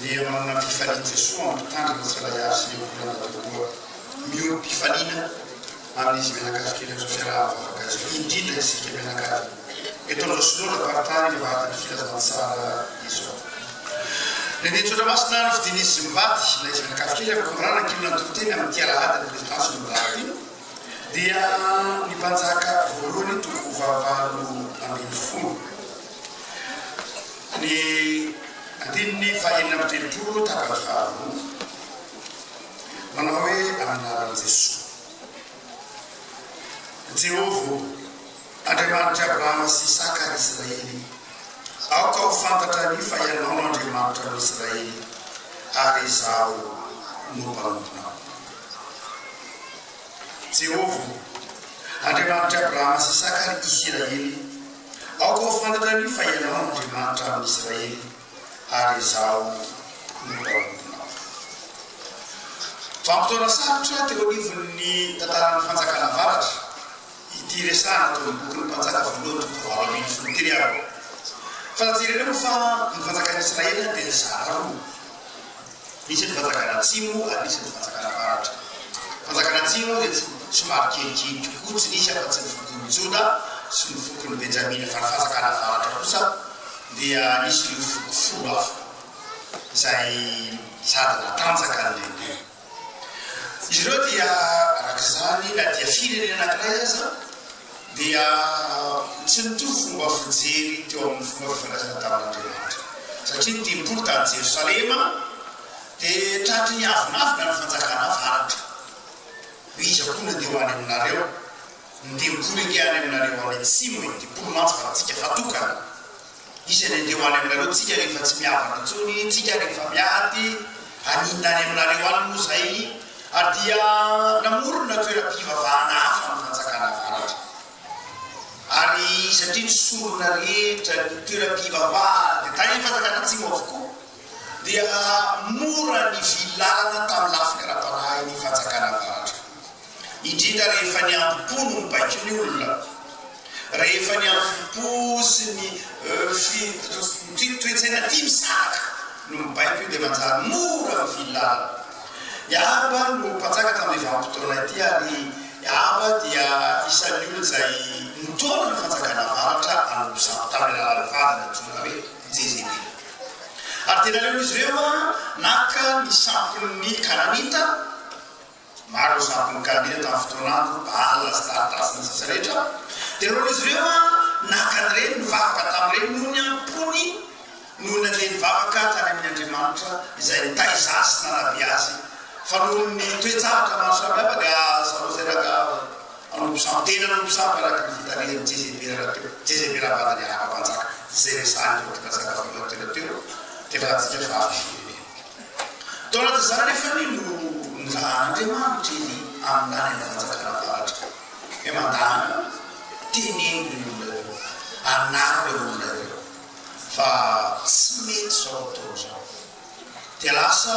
dia manana mpifaninan'i Jesoa mampitandrina tsy handay azy ny olona natahoa miorim-pifanina amin'izy mianakavy kely amin'izao fiaraha-ba vavakazao, indrindra isika mianakavy eto amin'izao Synoda Faritany Avadin'ny Filazantsara izao. Lehiben'ny Zotra Masina nofidin'izy izy mivady ilay izy mianakavy kely amin'ny Kor'any ankilona nitory teny amin'ity alahady ny prezidansy nodahatra ity dia ny mpanjaka voalohany toko fahavalo ambin'ny folo. Ny andininy fahenina amby telopolo tapany faharoa manao hoe, Amin'ny anaran'i Jesoa. Jehovah ô, Andriamanitr'i Abrahama sy Isaka ary Israely, aoka ho fantatra anie fa Ianao no Andriamanitra an'i Israely, ary izaho no mpanomponao. Jehovah ô, Andriamanitr'i Abrahama sy Isaka ary Isiraely, Aoka ho fantatra anio fa ianao no Andriamanitra amin'ny Israely, ary izaho no mpanomponao. Vanim-potoana sarotra teo anivon'ny tantaran'ny Fanjakana Avaratra ity resahana tao amin'ny Bokin'ny Mpanjaka Voalohany toko fahavalo ambin'ny folo ity ry havana. Fa jereo moa fa ny fanjakan'i Israely dia zara roa. Misy eto Fanjakana Atsimo ary misy eto Fanjakana Avaratra. Fanjakana Atsimo dia somary kelikely kokoa, tsy nisy afa-tsy ny fokon'i Joda sy ny fokon'i Benjamina, fa ny Fanjakana Avaratra kosa dia nisy ireo foko folo hafa izay sady natanjaka ny lehibe. Izy ireo dia araka izany na dia firenena anankiray aza dia tsy nitovy fomba fijery teo amin'ny fomba fifandraisana tamin'Andriamanitra satria ny tempoly tany Jerosalema dia tratry ny avonavona ny fanjakana avaratra hoe iza koa nandeha ho any aminareo ny tempoly ange any aminareo any atsimo e, tempoly mantsy fa antsika fa tokana Izy anie dia ho any aminareo tsika rehefa tsy mihavana intsony tsika rehefa miady haninona any aminareo any moa izay ary dia namorona toeram-pivavahana hafa ny fanjakana avaratra ary satria ny sorona rehetra ny toeram-pivavahana dia tahin'ny fanjakana atsimo avokoa dia nahamora ny filana tamin'ny lafiny ara-panahy ny Fanjakana Avaratra, indrindra rehefa niambom-po no nibaiko ny olona, rehefa niambom-po sy ny toe-tsaina tia misaraka no mibaiko io dia manjary mora ny filana. I Ahaba no mpanjaka tamin'ity vanim-potoana ity ary i Ahaba dia isan'ny olona izay nitaona ny Fanjakana Avaratra hanompo sampy tamin'ny alalan'ny vadiny antsoina hoe. Jeremia. Ary dia naleo izy ireo naka ny sampon'ny Kananita, maro ireo sampon'ny Kananita tamin'ny fotoana andro Baala, Astarta sy ny sisa rehetra, dia naleo izy ireo naka an'ireny, nivavaka tamin'ireny noho ny am-pony, noho nandeha nivavaka tany amin'ny andriamanitra izay nitaiza azy sy nanabe azy, fa noho ny toe-javatra maro samihafa dia aza lazaina gaga. Fanaovan-tenana ny mpisava araka ny fitarihan'ny CGB rahateo, CGB Rabada Miarahaba Mpanjaka, izay resahin'ny Raompimpanjaka valo elatrelatra teo, tena ratsika vavy firenena. Tao anatin'izany anefa anie no nirahan'Andriamanitra i Lia amin'ny lany any Fanjakana Avaratra. Hoe mandàna, teneno ireo olona ireo, anaro ireo olona ireo fa tsy mety izao ataony izao. Dia lasa.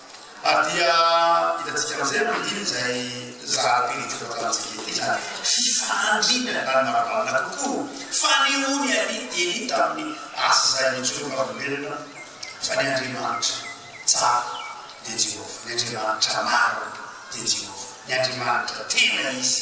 Ary dia hitantsika amin'izay manodidina izay zara-pirinty voatanantsika ity izany fifandrindrany ambany marimarina kokoa, fanehoany anie eny tamin'ny asa izay nijoroam-bavolombelona fa ny Andriamanitra tsara dia Jehovah, ny Andriamanitra marina dia Jehovah, ny Andriamanitra tena izy.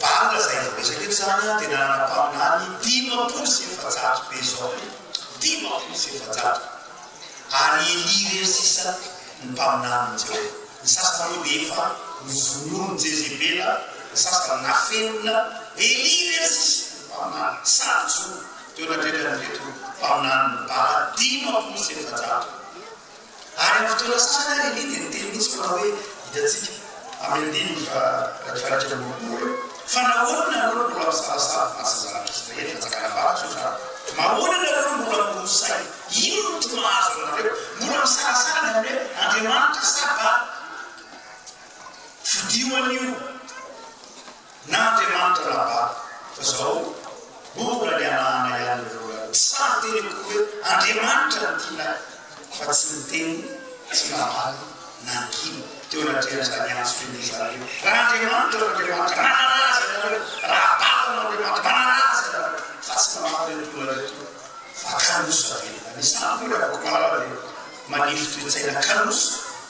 Banga zay vao resaka eto zany a, tena ara-paminany dimampolo sy efajato be zao e, dimampolo sy efajato ary elia irery sisa ny mpaminanin'i Jehovah. Ny sasany moa dia efa novonoin'i Jezebela, ny sasany nafenina, elia irery sisa ny mpaminany sady jono teo anatrehan'ireto mpaminanin'i Bala dimampolo sy efajato. Ary amin'ny fotoana sasany ary Elie dia niteny mihitsy fa hoe, hitantsika amin'ny andininy faha-valo-dimy-valonjato amby roapolo eo, fa nahoana ianareo no mbola misavasava asa zanak'Israely fanjakana avaratr'i Jodà? Mahoana ianareo no mbola miroso saina? Inona no tsy mahazo anareo? Mbola misalasala ny amin'ny hoe, Andriamanitra sa Bala? Fodiho anio! Na Andriamanitra na Bala. Fa zao mbola ny anahana ihany le vola. Tsy sahy niteny akory hoe Andriamanitra no tiana ahy fa tsy niteny tsy namaly nangina teo anatrehan'izany antso feno izany hoe raha Andriamanitra no Andriamanitra manana azy ianareo, raha Bala no Andriamanitra manana azy ianareo fa tsy namaly ireto olona ireto fa kanosa velona. Ny samy hoy Ravakomala dia manefy toe-tsaina kanosa.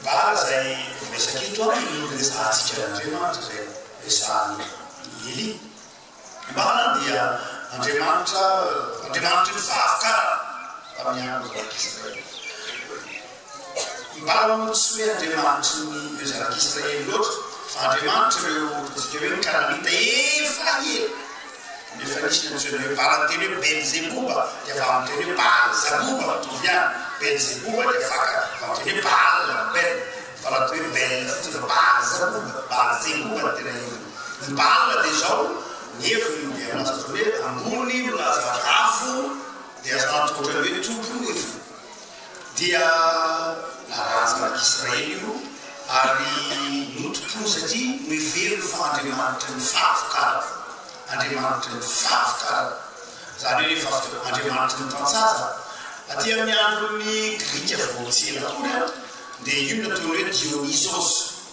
Bala zay miresaka eto an, io resahantsika an'Andriamanitra zay resahan'i Elia. I Bala dia andriamanitra andriamanitry ny fahavokarana tamin'ny andron'ny zanak'Israely. I Bala moa tsy hoe andriamanitry ny ireo zanak'Israely loatra fa andriamanitr'ireo ataontsika hoe ny Kananita efa ela. Nefa nisy teny feno hoe Baal teny hoe Belzeboba dia valin'ny teny hoe Baal zaboba mitovy ihany, Belzeboba dia faka amin'ny teny hoe Baal na Bel fa raha toa hoe Bel fotsiny fa Baal zaboba, Baal zeboba no tena heviny. Ny Baal dia izao, ny heviny dia milaza toy ny hoe ambony milaza rafo dia azo antoka ohatran'ny hoe tompon'ny heviny. dia nalaza tany Israely io ary notompoiny satria noheveriny fa Andriamanitry ny fahavokana, Andriamanitry ny fahavokana, izany hoe fahavokana, Andriamanitry ny tantsaha. Aty amin'ny andron'ny Grika vao tsy ela akory dia io no nataony hoe Dionysos.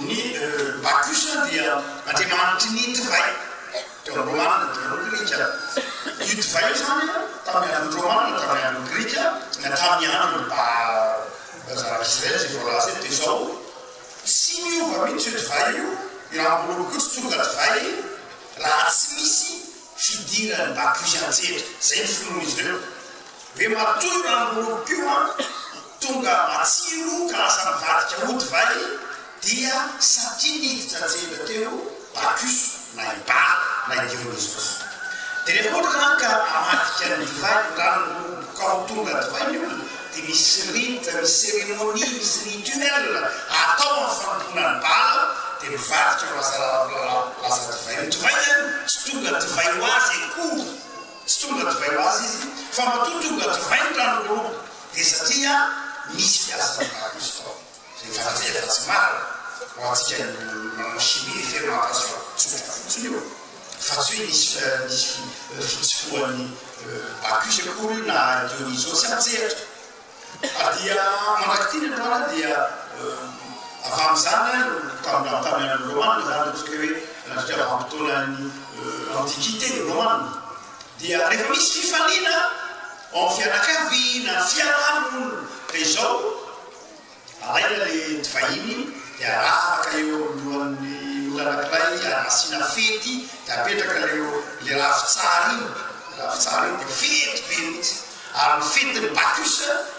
Ny Bacchus dia andriamanitry ny divay teo amin'ny Romanina teo amin'ny Grika. Io divay io izany tamin'ny andron'ny Romanina, tamin'ny andron'ny Grika, na tamin'ny andron'ny Mpanjaka Israely izay voalaza eto, dia izao, tsy miova mihitsy io divay io, io rambony io koa tsy tonga divay raha tsy misy fidiran'i Bacchus an-tsehatra. Izay ny finoan'izy ireo. Hoe matoa io rambony io koa, Tonga matsiro ka lasa nivadika ho divay dia satria niditra an-tsehatra teo Bacchus na i Baal na i Dionysos. Dia rehefa ohatra izany ka amadika ny divay ny ranon'ny hoho ka ho tonga divay ny olona dia misy rite, misy cérémonie, misy rituel atao amin'ny fanompoana an'i Baal dia mivadika ho lasa lasa divay. Ny divay izany tsy tonga divay ho azy akory, tsy tonga divay ho azy izy fa matoa tonga divay ny ranon'ny hoho. Dia satria misy fiasany tahaka izao fa rehefa jerena fa tsy marina, ho antsika nanao chimie ve ry Matas fa tsotra fotsiny io fa tsy hoe nisy nisy fitsofohan'ny Bacchus akory na Dionysos tsy an-tsehatra. Ka dia mandrak'ity ny androany dia avy amin'izany ary no tamin'ny tamin'ny andron'ny Romana izany ataontsika hoe nandritra vanim-potoanan'ny Antiquité Romana dia rehefa misy fifaliana Ho an'ny fianakaviana, ny fiarahamonina dia izao, alaina ilay divahiny dia aravaka eo anoloan'ny olona anankiray dia asiana fety dia apetraka ilay ilay ravin-tsara iny, ilay ravin-tsara iny dia fety be mihitsy. Ary ny fetin'ny Bacchus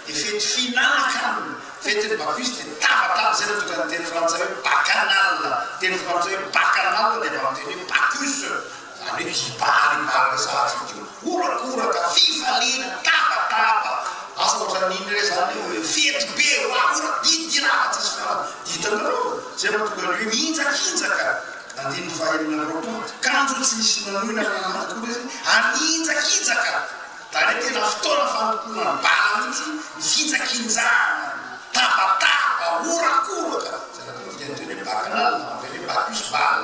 dia fety fihinan-kanina, fetin'ny Bacchus dia tabataba, izay no tonga ny teny frantsay hoe bacchanal, teny frantsay hoe bacchanal dia avy amin'ny teny hoe Bacchus. Izany hoe mpibahan' ny faharesahantsika io. Horakoraka, fifaliana, tabataba, asa ohatran' iny re izany eo e, fety be, vahaolana, didy lava tsisy farany. Didinareo izay mahatonga ny hoe mihinjakinjaka. Andininy fahaenina amby roapolo, Kanjo tsy misy manohina na manady koa izy, ary mihinjakinjaka. Izany hoe tena fotoana fanompoana ny bala mihitsy ny fihinjakinjahana, ny tabataba, horakoraka, izay nataontsika niteny hoe Bakanal, en anglais, Bacchus Bal.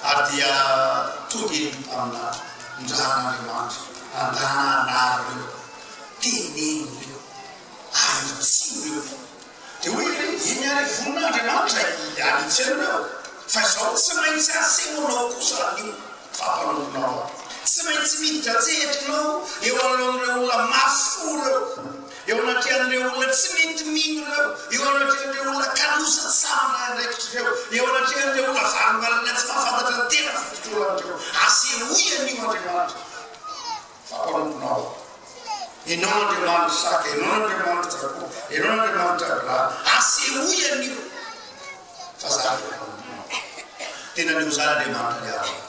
Ary dia tody ny mpaminany nirahan'Andriamanitra handana an'ary ireo, teneno ireo, ahitsio ireo. Dia hoy izy, Eny ary vonin'Andriamanitra hialitsy anareo, fa izao tsy maintsy asehonao kosa anio fa mpanompona ao aminy. Tsy maintsy miditra an-tsehatra ianao eo anoloan'ireo olona mahafoy ireo. Eo anatrehan'ireo olona tsy mety mino ireo, eo anatrehan'ireo olona kaloza tsy sahy mandray andraikitra ireo, eo anatrehan'ireo olona varimbariana tsy mahafantatra ny tena fotodraona ireo, asehoy anio Andriamanitra fa mpanompona aho. Enao Andriamanitra Isaka, enao Andriamanitra Jakoba, enao Andriamanitra Abrahama, asehoy anio fa za efa mpanompona aho. Tena anio zany Andriamanitra niarina.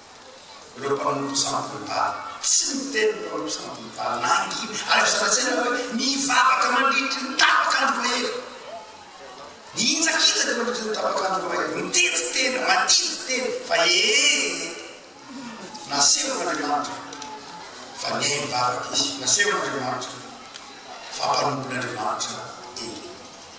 ireo mpanolotsa ambony-tany. Tsy miteny ny mpanolotsa ambony-tany na angina, ary aza lazaina fa hoe mivavaka mandritry ny tapak'andro mahery. Mihintsakitsaka mandritry ny tapak'andro mahery, mitety tena, matidy tena, fa ee! Nasehon'Andriamanitra fa nihaino vavaka izy, nasehon'Andriamanitra fa mpanompon'Andriamanitra izy.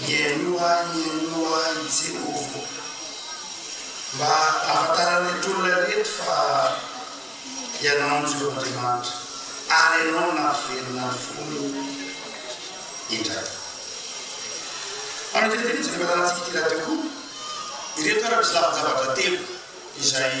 Mihainoa ahy, mihainoa ahy, Jehovah, mba hahafantaran'ireto olona ireto fa Ianao no Jehovah Andriamanitra, ary Ianao no nampivelona ny fony indray. Manadihadiana ity fandaharantsika ity rahateo koa ireto ara-mpizahavon-javatra telo izay.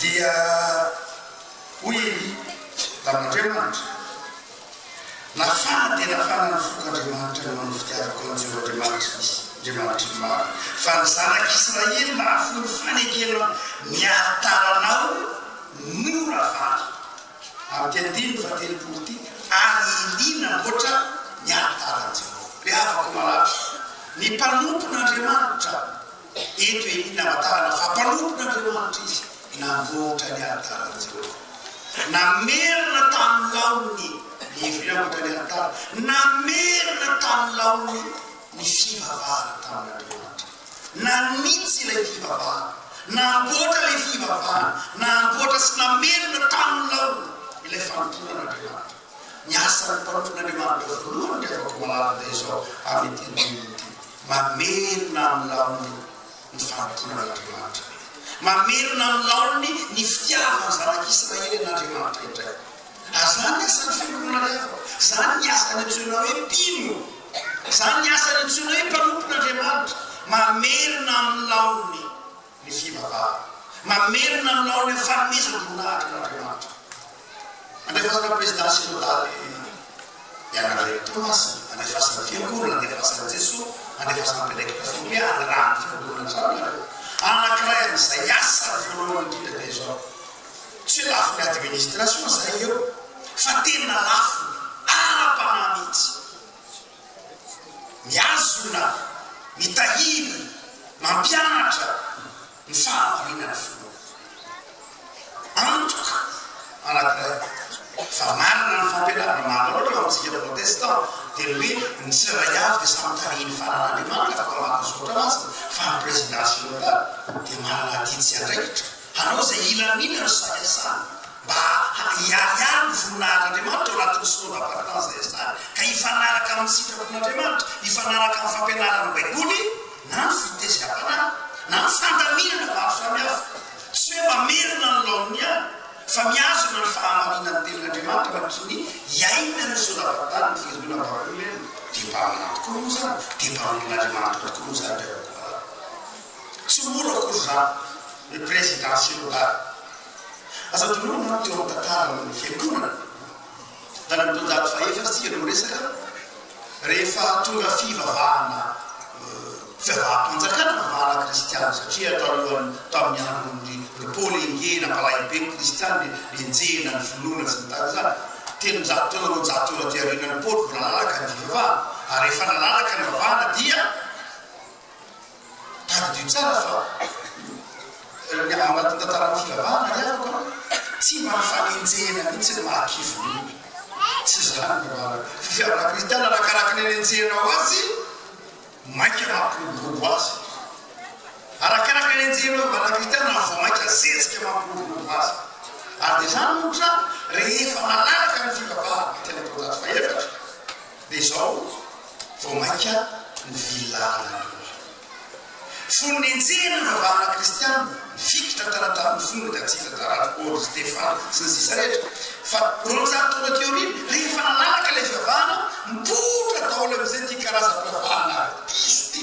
Dia hoy i Tamanriamanitra, Nafana dia nafana ny foko Andriamanitra noho ny fitiavako an'i Jeho Andriamanitry ny Andriamanitry ny marina, fa ny zanak'i Israely nahafoy ny fanekena miaratara anao mora vaky. Amity andininy fahatelopolo ity ary Elia namboatra ny alitaran'i Jeho. Ry havako malala, ny mpanompon'Andriamanitra, Eto anie ny hamantarana fa mpanompon'Andriamanitra izy, na mihoatra ny alitaran'i Jehovah. Namerina tamin'ny laoniny ny ivry namoaka ny alitara. Namerina tamin'ny laoniny ny fivavahana tamin'Andriamanitra. Nanitsy ilay fivavahana. Namboatra ilay fivavahana. Namboatra sy namerina tamin'ny laoniny ilay fanompoana an'Andriamanitra. Ny asan'ny mpanompon'Andriamanitra voalohany ry havako malala dia izao, amin'ity andininy ity. Mamelona amin'ny laoniny ny fanompoan'Andriamanitra. Mamelona amin'ny laoniny ny fitiavana ny zanak'Israely an'Andriamanitra indray. Ary izany ny asan'ny fiangonana ry havana. Izany ny asany antsoina hoe mpino. Izany ny asany antsoina hoe mpanompon'Andriamanitra. Mamelona amin'ny laoniny ny fivavahana. Mamerina aminao ny fanomezam-boninahitra an'Andriamanitra. Andefasana ho prezidà sinodaly ianareo. Toamasina, andefasana ny Fiangonana, andefasan'i Jesoa, andefasana ny mpiandraikitra finoy ihany raha ny Fiangonana izao no nareo. Anankiray amin'izay asa voalohany indrindra dia izao. Tsy hoe lafiny administration izay eo fa tena lafiny ara-panahy mihitsy. Mihazona, mitahiry, mampianatra ny fahamarinan' Filoha. Antoka anankiray fa marina ny fampianaran' Mahaleo teo amin' isika protestan dia ny hoe ny tsirairay avy dia samy tarihin' ny fanan' Andriamanitra afaka maka zotra azy fa ny prezidan-synôda dia manana aty tsy andraikitra. Hanao izay hilaminana sy habiazana mba hiharihary ny voninahitr'Andriamanitra ao anatin'ny soins d'appartenance izay ajanony, ka hifanaraka amin'ny sitrapon'Andriamanitra, hifanaraka amin'ny fampianaran'ny Baiboly na ny fitezerapanahy, na ny fandaminana maro samihafa. Tsy hoe mamerina ny laoniny ihany, fa mihazona ny fahamarinan'ny Tenin'Andriamanitra mandritra ny hiainany ny soins d'appartenance ny fihainoana ny Baiboly. Dia mba manampy koa moa izany? Dia mba olon'Andriamanitra tokoa moa izany ry havako malala? Tsy mora akory izany ny prezidà sinodaly. Aza adinoina manko teo amin'ny tantaran'ny fiangonana, fa ny taonjato fahaefatra isika no resaka, rehefa tonga fivavahana, fivavaham-panjakana, fivavahana kristiana, satria talohan'ny, tamin'ny andron'ny ry Paoly Engehy, nampalahelo be ny kristiana, nenjehina ny finoana sy ny tariny izany. Telonjato taona, roanjato taona aty aorianan'i Paoly vao nalalaka ny fivavahana, ary rehefa nalalaka ny fivavahana dia. Tadidio tsara fa ny ao anatin'ny tantaran'ny fivavahana ny havako tsy mba fanenjehana mihitsy ny maha kivy ny olona. Tsy izany ny marina. Fitiavana kristiana arakaraka ny anenjehanao azy mainka mampiroborobo azy. Arakaraka ny anenjehanao ny vavaka kristiana no vao mainka zezika mampiroborobo azy. Ary dia izany ohatra rehefa manaraka ny fivavahana teny am-pao-jato faha-efatra, Dia izao vao mainka novilana ny loha. Fony nenjehina ny ravahana kristiana, nifikitra tany tamin'ny fony ny katsitra taraty Paoly, ry Stefana, sy ny sisa rehetra. Fa roanjato taona aty aoriana, rehefa nanaraka ilay fivavahana, nipoitra daholo amin'izay ity karazam-pivavahana diso ity.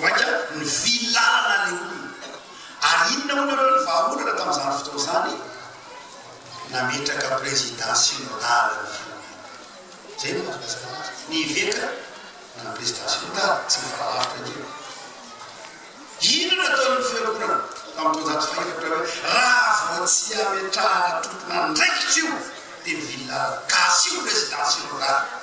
Mainka nivily lalana ilay olona. Ary inona hono ireo ny vahaolana tamin'izany fotoana izany? Nametraka président synodale ny firenena. Izay no mahatonga izany azy. Ny eveka na ny président synodale, tsy mifanalavitra intsony. Inona no ataon'ny fiangonana tamin'ny taonjato fahefatra hoe raha vao tsy ametrahana tompon'andraikitra io dia mivily lalana. Gasy io président synodale.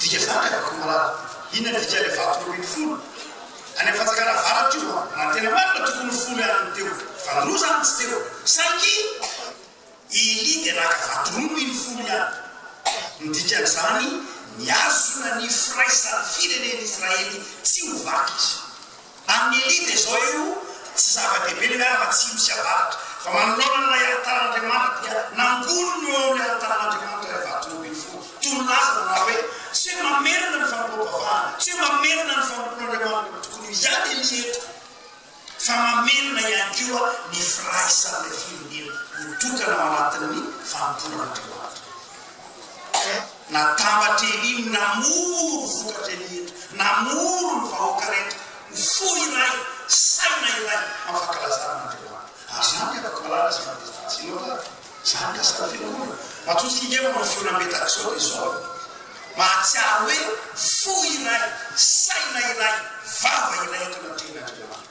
Dika zany ry camarade, inona ny dika ilay vato roa ambin'ny folo? Any amin'ny fanjakana avaratra io an, raha ny tena marina tokony ho folo ihany no teo, fa ny roa zany tsy teo, saingy i Elia dia naka vato roa noho iny folo ihany. Ny dikan'izany, mihazona ny firaisan'ny firenen'Israely tsy ho vaky izy. Amin'ny elite izao io tsy zava-dehibe ny miara atsimo sy avaratra fa manoloana an'ilay alitaran'Andriamanitra dia nangoniny eo amin'ny alitaran'Andriamanitra ilay vato roa ambin'ny folo toy ny laza nanao hoe tsy hoe mamerina ny fanompoam-bavahana tsy hoe mamerina ny fanompoan'Andriamanitra no tokony ho hiady anie eto fa mamerina ihany koa ny firaisan'ilay firenena ho tokana ao anatin'ny fanompoan'Andriamanitra. Natambatry Elia ny namory vokatra eny ireto, namory ny vahoaka rehetra ho fo iray, saina iray, amin'ny fankalazana an'Andriamanitra. Ary izany dia afaka malala izay mandidy fahazina ao raha izany ka sady fiangonana. Matoa tsy hingefa manao feona be tahaka izao dia izao no mahatsiaro hoe fo iray, saina iray, vava iray eto anatrehan'Andriamanitra.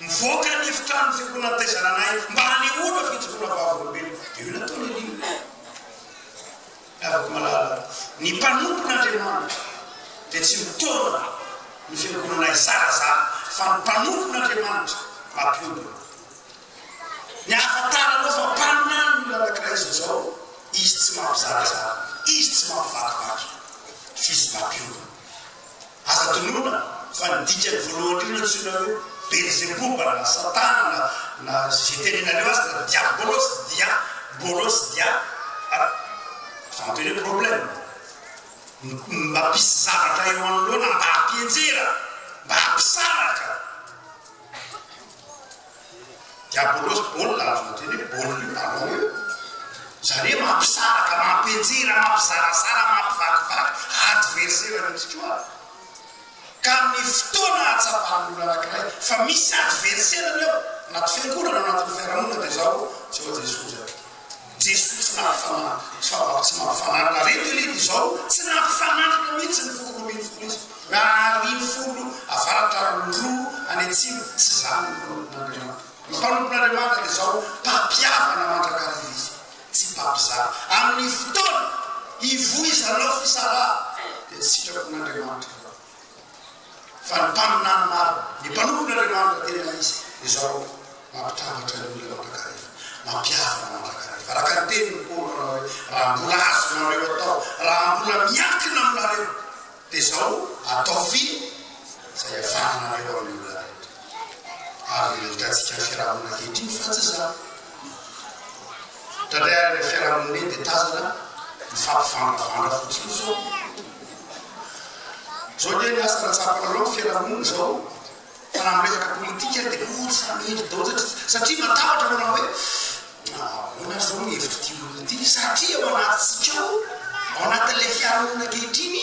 Nivoaka ny efitrano fiombonan'ny taizananay mba hanehoana fijoroana vavolombelona. Dia io nataon'i Elia. Ny havako malala, ny mpanompon'Andriamanitra dia tsy mitaona ny fiangonanay zarazara, fa ny mpanompon'Andriamanitra mampiombona. Ny ahafantaranao fa mpaminany ny olona anankiray izy izao, izy tsy mampizarazara, izy tsy mampivakivaky, f'izy mampiombona. Aza adinoina fa ny dikany voalohany indrindra antsoina hoe Belzeboba na Satana na na izay tenenareo azy na Diabolos, Dia bolos, Dia a. Fa antony hoe problème. M mba mpisy zavatra eo anoloana mba hampianjera, mba hampisaraka. Diabolos baolina azo otrany hoe baolina io ballon io zare mampisaraka mampianjera mampizarazara mampivakivaky adversaire anao tsikoa ka amin'ny fotoana ahatsapan'ny olona anakiray fa misy adversaire ny ao anaty fiangonana anatin'ny fiarahamonina dia zao tsy ao Jesoa zany Jesosy tsy naha fananiko fa raha tsy maha fananiko ary ito ireto izao tsy naha fananiko mihitsy ny foko roambinifolo izy raha ariny folo avaratra ary roa any atsimo tsy za no mpanompon'Andriamanitra ny mpanompon'Andriamanitra dia zao mpampihavana mandrakariva izy tsy mpampizara amin'ny fotoana hivoizanao fisarahana dia ny sitrapon'Andriamanitra fa ny mpaminany maro, ny mpanompon'Andriamanitra tena izy, ry zarao, mampitambatra ny olona mandrakareva, mampihavana mandrakareva, araka ny tenin'i Paoly manao hoe, raha mbola azonareo atao, raha mbola miankina aminareo, dia izao, ataovy izay ahafahanareo amin'ny olona rehetra. Ary hitantsika amin'ny fiarahamonina ankehitriny fa tsy izany. Tandremo ny fiarahamonina dia tazana ny fampivandravandra fotsiny zao. Zao anie ny lasa rantsapanareo ny fiarahamonina zao fa raha miresaka politika dia ohatran'ny hendry daholo satria satria matahotra manao hoe ahoana ary zao ny hevitro ty olona ty satria ao anatintsika ao ao anatin'ilay fiarahamonina ankehitriny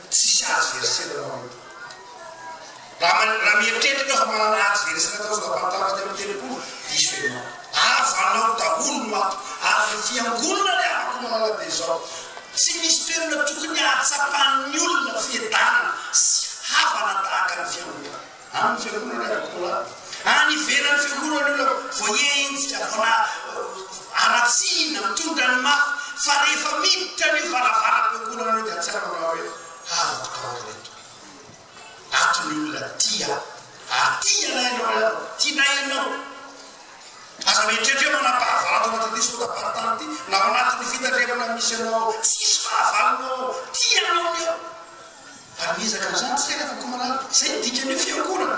Tsisy azo herisera ny manompo. Raha mieritreritra ianao fa manana azo herisera atao zao tamin'ny taona telo amby telopolo, diso ianao. Azo anao daholo ny maty ary ny fiangonana ny afaka manala dia izao. Tsy misy toerana tokony hahatsapan'ny olona fiadanana sy havana tahaka ny fiangonana. Amin'ny Fiangonana Katôlika any ivelan'ny Fiangonana io ilay voaenjika, voana haratsiana, mitondra ny mafy, fa rehefa miditra an'io varavaram-piangonana io dia tsy hainao raha hoe havako taona ireto. Ato ny olona tia, aty ianao ianao raha ianao, tianay ianao. Aza mieritreritra hoe manampahavaloko ao anatin'ity sotapartany ity, na ao anatin'ny fitandremana misy anao ao, tsisy fahavalonao ao, tianao ny ao. Ary miezaka an'izany isika anefa koa manala. Izay no dikan'io fiangonana.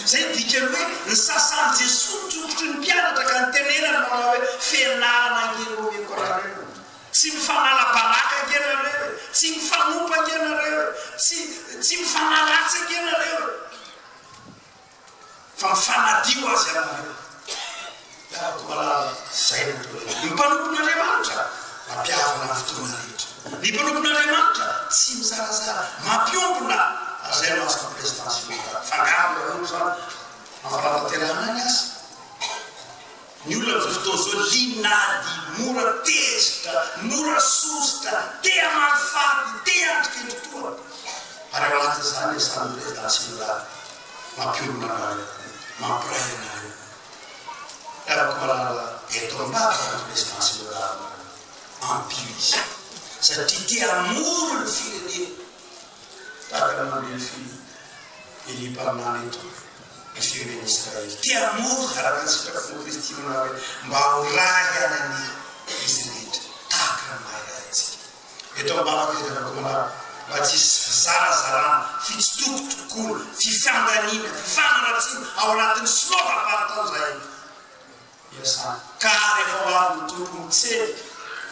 Izay no dikan'ny hoe nosasan'i Jesoa ny tongotry ny mpianatra ka nitenenany manao hoe, Fianarana ange no omeko anareo e! Tsy mifanala baraka ange ianareo e! Tsy mifanompa ange ianareo e! Tsy, tsy mifanaratsy ange ianareo e! fa fanadio azy ianareo miaraka malala zay no toerana ny mpanompon'Andriamanitra ampihavana ny fotoana rehetra ny mpanompon'Andriamanitra tsy mizarazara mampiombona ary zay no azon'ny président sy ny fangaro nareo zany mampanatanterahana ny asa Ny olona amin'izao fotoana izao liana ady, mora tezitra, mora sosotra, te hamaly faty, te hiatrika endri-poana. Ary ao anatin'izany ilay sarin'i Président Synoda, mampionona anareo, mampiray anareo. Ry havako malala, eto amin'ny Papa no Président Synoda aminareo. Ampio izy, satria te hamory ny firenena, tahaka ny nandre ny finoana Elie Mpaminany eto. ny firenena Israely. Te hamory araka ny sitrapon'i Kristy manao hoe, Mba ho ray anan'ny izy rehetra, tahaka ny maha iray antsika. Eto ambavako dia nanaovako maro mba tsy hisy fizarazarana, fitsitokotokoana, fifandaniana, fifanaratsiana ao anatin'ny sinoa fahavalontaona izahay eto. iasana. Ka rehefa ho avy ny Tompo mitsena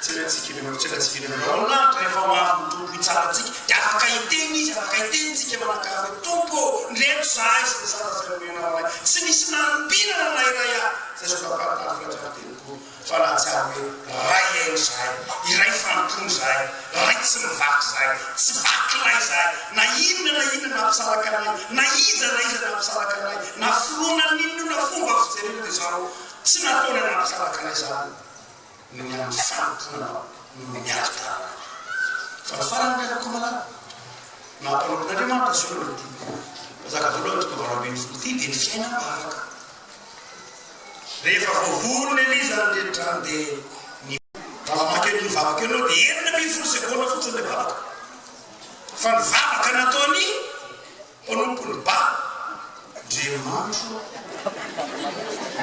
tsena antsika ianareo mitsena antsika ianareo ao lanitra rehefa ho avy ny Tompo hitsara antsika dia afaka hiteny Izy afaka hiteny tsika manakara hoe Tompo ô ndreto zahay sy ny sata izay nomenao anay tsy nisy nanompinana na iray ary izay zao tapatapaka hatramin'ny telopolo fa nahatsiaro hoe Ray aina izahay, iray fanompoana izahay, Ray tsy mivaky izahay, tsy vakilay izahay, na inona na inona nampisaraka anay, na iza na iza nampisaraka anay, na finoana n'inona fomba fijerena izao, tsy nataonay nampisaraka anay izany, noho ny amin'ny fanompoana Anao, noho ny alitanay. Fa ny farany ny Akohomalala, nampanompon'Andriamanitra, Zoro ity, mpanjaka voalohany toko valo ambin'ny folo ity, dia ny fiainam-bavaka. Rehefa voavoron'i Eliza ny rehetra dia ny. Raha mamaky an'io vavaka io ianao dia enina ambin'ny folo segona fotsiny ilay vavaka. Fa ny vavaka nataon'ny mpanompon'i Ba. Andriamanitro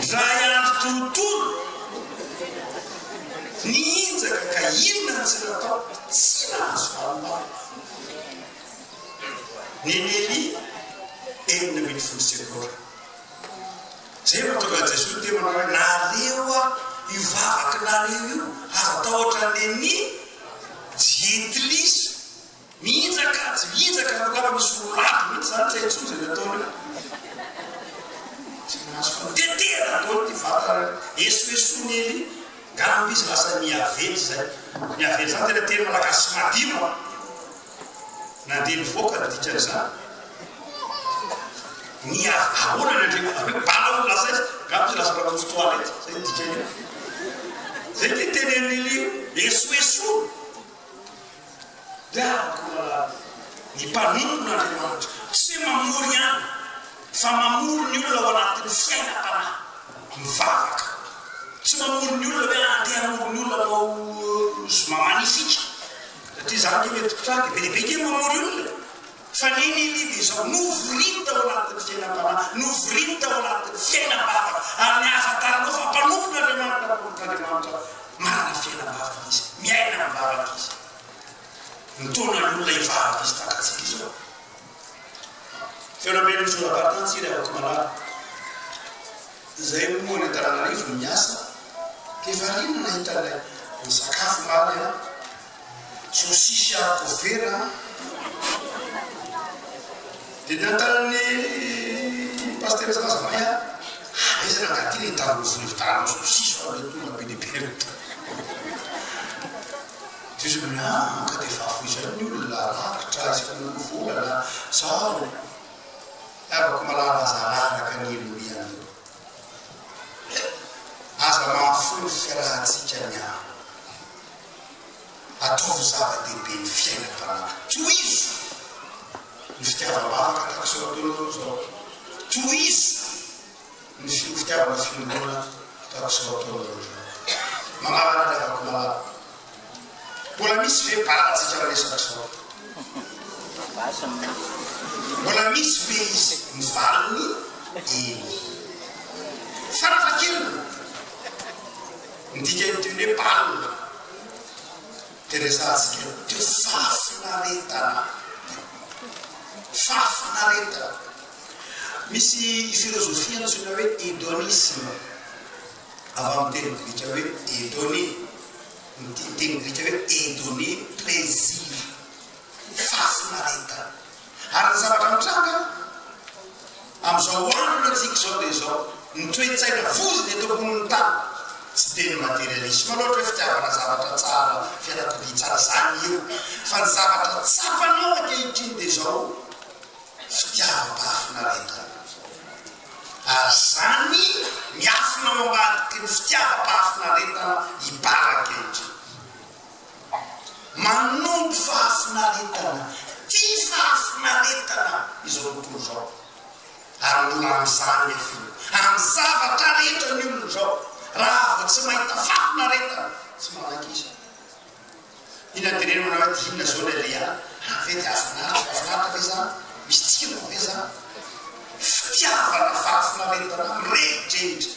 ndray andro tontolo nihinjaka ka inona no tsy natao? Tsy nahazo valom-bavaka nen'i Elia enina ambin'ny folo segona. Izay no mahatonga an'i Jesoa niteny ho anareo hoe, Naleo aho io vavaka naleo io, aza tahotra an'le ny jentilisa. Mihinjaka kajy, mihinjaka laoka, ary misy voalavo mihitsy izany, tsy hay intsony izay nataony io. Tsy mahazo fo, tetehana daholo ity vatana io, esoesoin'i Elia, ngamba izy lasa niavela izay. Niavela izany tena teny malagasy madio an! Na dia nivoaka ny dikan'izany ny ahoana ny Andriamanitra hoe bala ou lazaina, angamba tsy lazaina pousse toilette, izay no dikany eo. Izay dia tenenin'ily esoesoana. Dia ankoraha ny mpanompo an'Andriamanitra tsy hoe mamory ihany fa mamory ny olona ao anatin'ny fiainam-panahy mivavaka. Tsy mamory ny olona hoe andeha hamory ny olona manao zoma magnifique. Satria za anie mety mpitranga e, be dia be kay mamory olona e! Fa nini i Liva izao, novoriny tao anatin'ny fiainam-panahy, novoriny tao anatin'ny fiainam-bavaka, ary ny ahafantarana fa mpanompon'Andriamanitra ary mpanompon'Andriamanitra manana fiainam-bavaka izy, miaina amin'ny vavaka izy. Mitaona ny olona hivavaka izy tahaka antsika izao. Teo Namely Ny Zona-Baritany Tsy Iray Vato Malala Izay moa any Antananarivo no miasa dia variana nahita ilay ny sakafo omaly an! Saosisy harikovera an! Dia niantaran'ny Pasitera Zaza May aho ary aiza ny angatiny ny tamin'ny vola hividianana saosisy fa mety tonga be dia be ireto. Diso ny amiko ka dia efa afoy izay ny olona rakitra isaky ny roa vola na izaho no itiavako malala aza araraka ny olomianina. Aza mahafoy ny fiarahantsika ny ahy. Ataovy zava-dehibe ny fiainam-panahy. Tohizo ny fitiavam-bavaka tahaka izao ataonao izao. Tohizo. Misy ny fitiavana sy finoana ataoko sy ho ataonareo izany. Mangala ny hadiavako malala. Mbola misy ve bala tsika miresaka sao? Mbola misy ve izy ny valiny? Eny. Farafahakeliny, midika ny diony hoe balina. Dia resahantsika eo dia fahafinaretana, fahafinaretana. Misy filozofia antsoina hoe hedonisme, avy amin'ny teny grika hoe hedone, ny teny grika hoe hedone, plaisir, fahafinaretana. Ary ny zavatra mitranga amin'izao andro antsika izao dia izao, ny toe-tsaina vozona eto ambonin'ny tany tsy dia ny materialisme loatra hoe fitiavana zavatra tsara, fiarakodia tsara, izany io fa ny zavatra tsapanao ankehitriny dia izao fitiavam-pahafinaretana. Ary izany miafina ao ambadiky ny fitiavam-pahafinaretana hibara ankehitriny. Manondro fahafinaretana, tia fahafinaretana izao tontolo izao. Ary mbola amin'izany ilay finoana. Amin'ny zavatra rehetra ny olona izao, raha vao tsy mahita fahafinaretana, tsy manaiky izy. Iny anterenao na hoe dia inona izao ilay Léa, raha ve dia hahafinaritra, mahafinaritra ve izany? Misy tsirony ve izany? Fitiavana, fahafinaretana, mirehareha.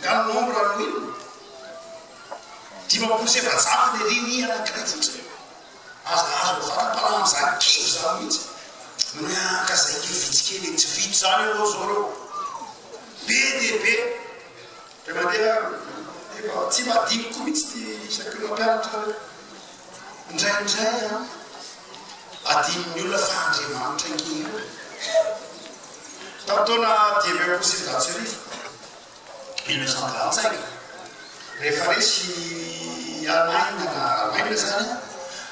Nga ny nombre an'i Will? Dimampolo sy efajato le reny anankiray fotsiny aza azo mivantana mpanahy amzany kivy zany mihitsy mianka zay ke vitsy kely e tsy vitsy zany anao zao reo be de be de mandeha efa tsy mba adinoko mihitsy ty isaky ny mampianatra anareo Indraindray an, adinon'ny olona fa Andriamanitra ankehitriny e! Tamin'ny taona dimy ambin'ny folo sy sivinjato sy arivo, mille neuf cent trente cinq, rehefa resy i Alemaina na Alemaina izany an,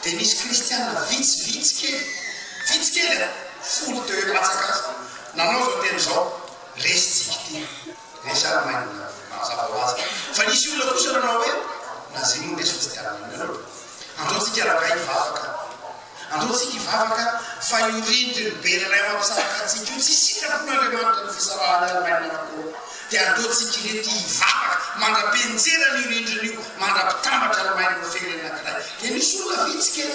dia nisy kristiana vitsy, vitsy kely, vitsy kely an, folo teo eo latsaka aza, nanao izao teny izao, Resy tsiky ity. Resaka maimbola mazava ho azy. Fa nisy olona kosa nanao hoe, na zay moa Jesosy dia aminareo. Andao tsika rangahy hivavaka. Andao tsika hivavaka fa io rindrin'ny berana eo ampisaraka antsika io, tsy sitrapon'Andriamanitra ny fisarahana ry maina anakoo. Dia andao tsika ireto hivavaka mandra-pientserana io rindrina io, mandra-pitambatra ry maina ho fehiny anankiray. Dia nisy olona vitsy kely.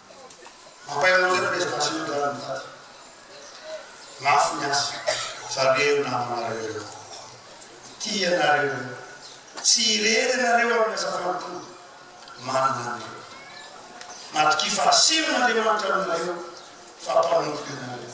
Mampahiran'ireo ny resaka tsy mety lany daty. Mafy ny asa fa reo namanareo reo kokoa. Tia anareo reo. Tsy irery ianareo amin'ny asa fanompoana. Manana an'ireo. Matokia fahasimbana Andriamanitra aminareo fa mpanompo ianareo.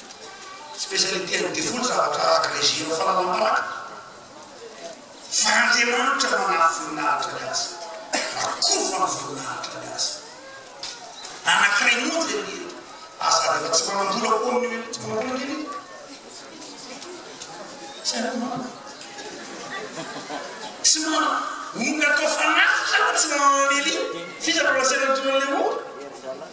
Spécialité an'i Devoly zavatra araka izay zero fanalam-baraka fa Andriamanitra manampy voninahitra ny azy, rakova ny voninahitra ny azy. Anankiray monja anie eto, aza rehefa tsy manam-bola koa amin'io eto tsy manam-bola kely eto. Tsy hainao manana. Tsy manana. Omby atao fanatitra aza tsy manana lelio. F'iza no lazaina ny tonan'ilay omby?